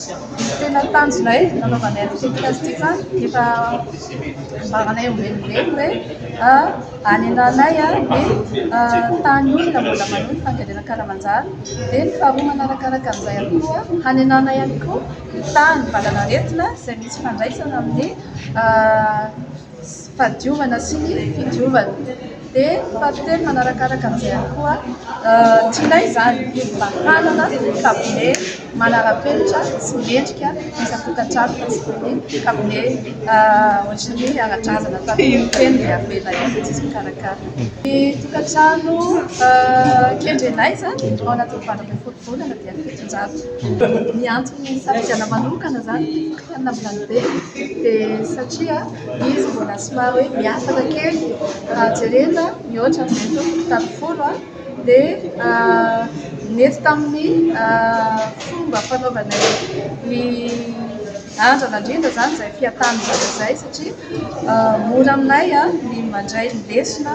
Tena tanjonay nanaovanay an'ity podcast ity fa efa ambaranay ho velively hoe hanenanay ny tany olona mbola manohy ny fandiadiana an-kalamanjana. Dia ny faharoa manarakaraka an'izay ihany koa, hanenanay ihany koa ny tany valanaretina izay misy ifandraisana amin'ny. sy fahadiovana sy ny fidiovana dia ny fahatelony manarakaraka an'izay ihany koa tsy ilay izany mba hanana kabone manarapenitra sy mendrika isan-tokantrano fa tsy toy ny kabone ohatry ny ara-drazana tamin'ny teny dia avela eo dia tsy misy mikarakara ny tokantrano kendrenay izany ao anatin'ny valo ambin'ny folo taona Volana dia fitonjato. Ny antony nisafidianana manokana izany ity fokontany Nambilany Be dia satria izy mbola somary hoe miafina kely raha jerena mihoatra amin'ilay teo fokontany folo dia nety tamin'ny fomba fanaovanay ny andrana indrindra izany izay fiatan'ny zanaka izay satria mora aminay ny mandray ny lesona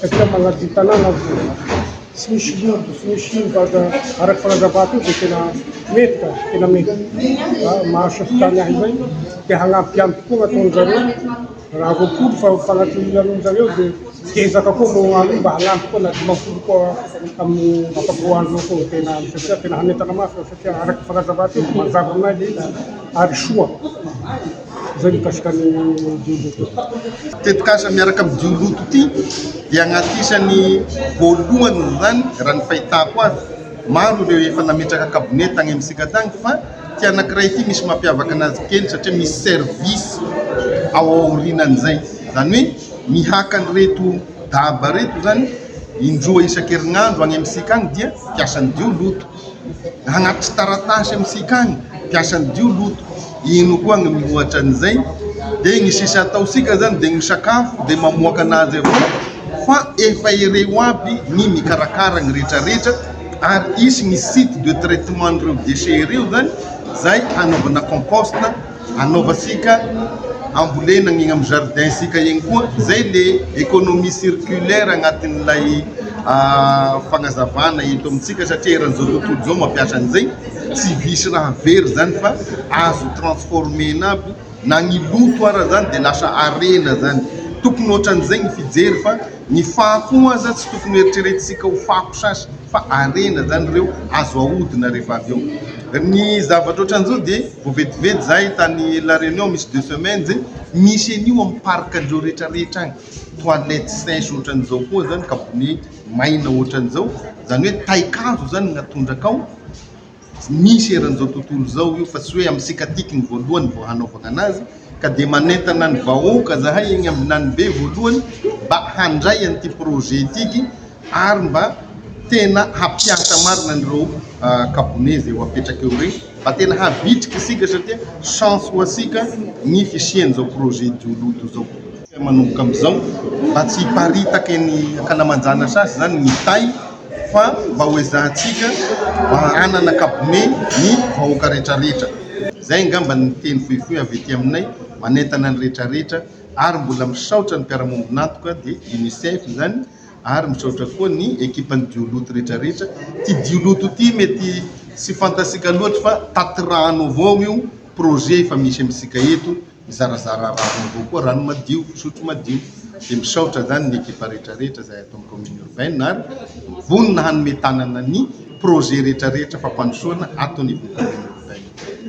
satria manadio tanàna vo tsy misy loto tsy misy ino fa aza araka fanazavako io dia tena mety ka tena mety fa mahasofo tany ahy izay dia hanampy ihany tokoa ny ataon'ny zareo raha roapolo fa fanatohian'ny zareo dia ezaka koa no hany mba hanampy koa na dimampolo koa amin'ny ampaboan'ireo koa tena satria tena hanentana mafy fa satria araka fanazavako io mazava aminay ilay izy ary soa Izay mikasika ny dioloto. Tetikasa miaraka amin'ny dioloto ity dia agnatin'isa ny voalohany izany raha ny fahitako azy. Maro ireo efa nametraka kabone tagny amintsika tagny fa ity anankiray ity misy mampiavaka anazy kely satria misy service ao aorinan'izay. Izany hoe mihaka an'ireto daba ireto izany indroa isan-kerinandro agny amintsika agny dia mpiasan'ny dioloto. Anaty taratasy amintsika any mpiasan'ny Dio loto. Ino koa ny miohatra an'izay? Dia ny sisa ataontsika izany dia misakafo dia mamoaka an'azy avy eo fa efa ireo aby ny mikarakara ny rehetra rehetra ary hisy ny site de traitement an'ireo déchets ireo izany izay hanaovana compost. anaovantsika ambolena ny amin'ny jardin sika eny koa zay le economie circulaire agnatin'ilay fagnazavana eto amintsika satria eran'izao tontolo izao mampiasa an'izay tsy visy raha very zany fa azo transformena aby na ny loto ara zany de lasa arena zany tokony ohatran'izay ny fijery fa Ny fako aza tsy tokony hoeritreretintsika ho fako sasy fa harena zany ireo azo ahodina rehefa avy eo ny zavatra otran'izao dia vao vetivety zahay tany la reunion misy deux semaines e misy an'io amin'ny parc andreo rehetra rehetra any toilettes sèches otran'izao koa zany kabone maina otran'izao zany hoe taikazo zany no atondraka ao Tsy misy eran'izao tontolo izao io fa tsy hoe amin'ny sikatiky ny voalohany vao hanaovagna anazy ka dia manentana ny vahoaka zahay egny ambinanibe voalohany mba handray an'ity projet itiky ary mba tena hampiasa marina an'ireo kabonez eo apetraka eo regny mba tena havitrika isika satria chance ho asika ny fisian'izao projet jiology izao. Tsy manomboka amin'izao mba tsy hiparitaka eny ankalamanjana sasy izany ny tay fa mba ho ezahantsika mba hanana kabone ny vahoaka retraretra. Izay angamba ny teny fohifohy avy ety aminay manentana ny retraretra ary mbola misaotra ny mpiara-mombon'antoka dia UNICEF izany ary misaotra koa ny ekipan'ny Dioloto retraretra. Ity Dioloto ity mety tsy fantatsika loatra fa taty rano avao io projet efa misy amintsika eto Mizarazara raha vaovao koa rano madio, fisotro madio. Dia misaotra izany ny ekipa rehetrarehetra izay ato amin'ny commune urbaine ary vonona hanome tanana ny projet rehetrarehetra fampandrosoana ato anivon'ny commune urbaine.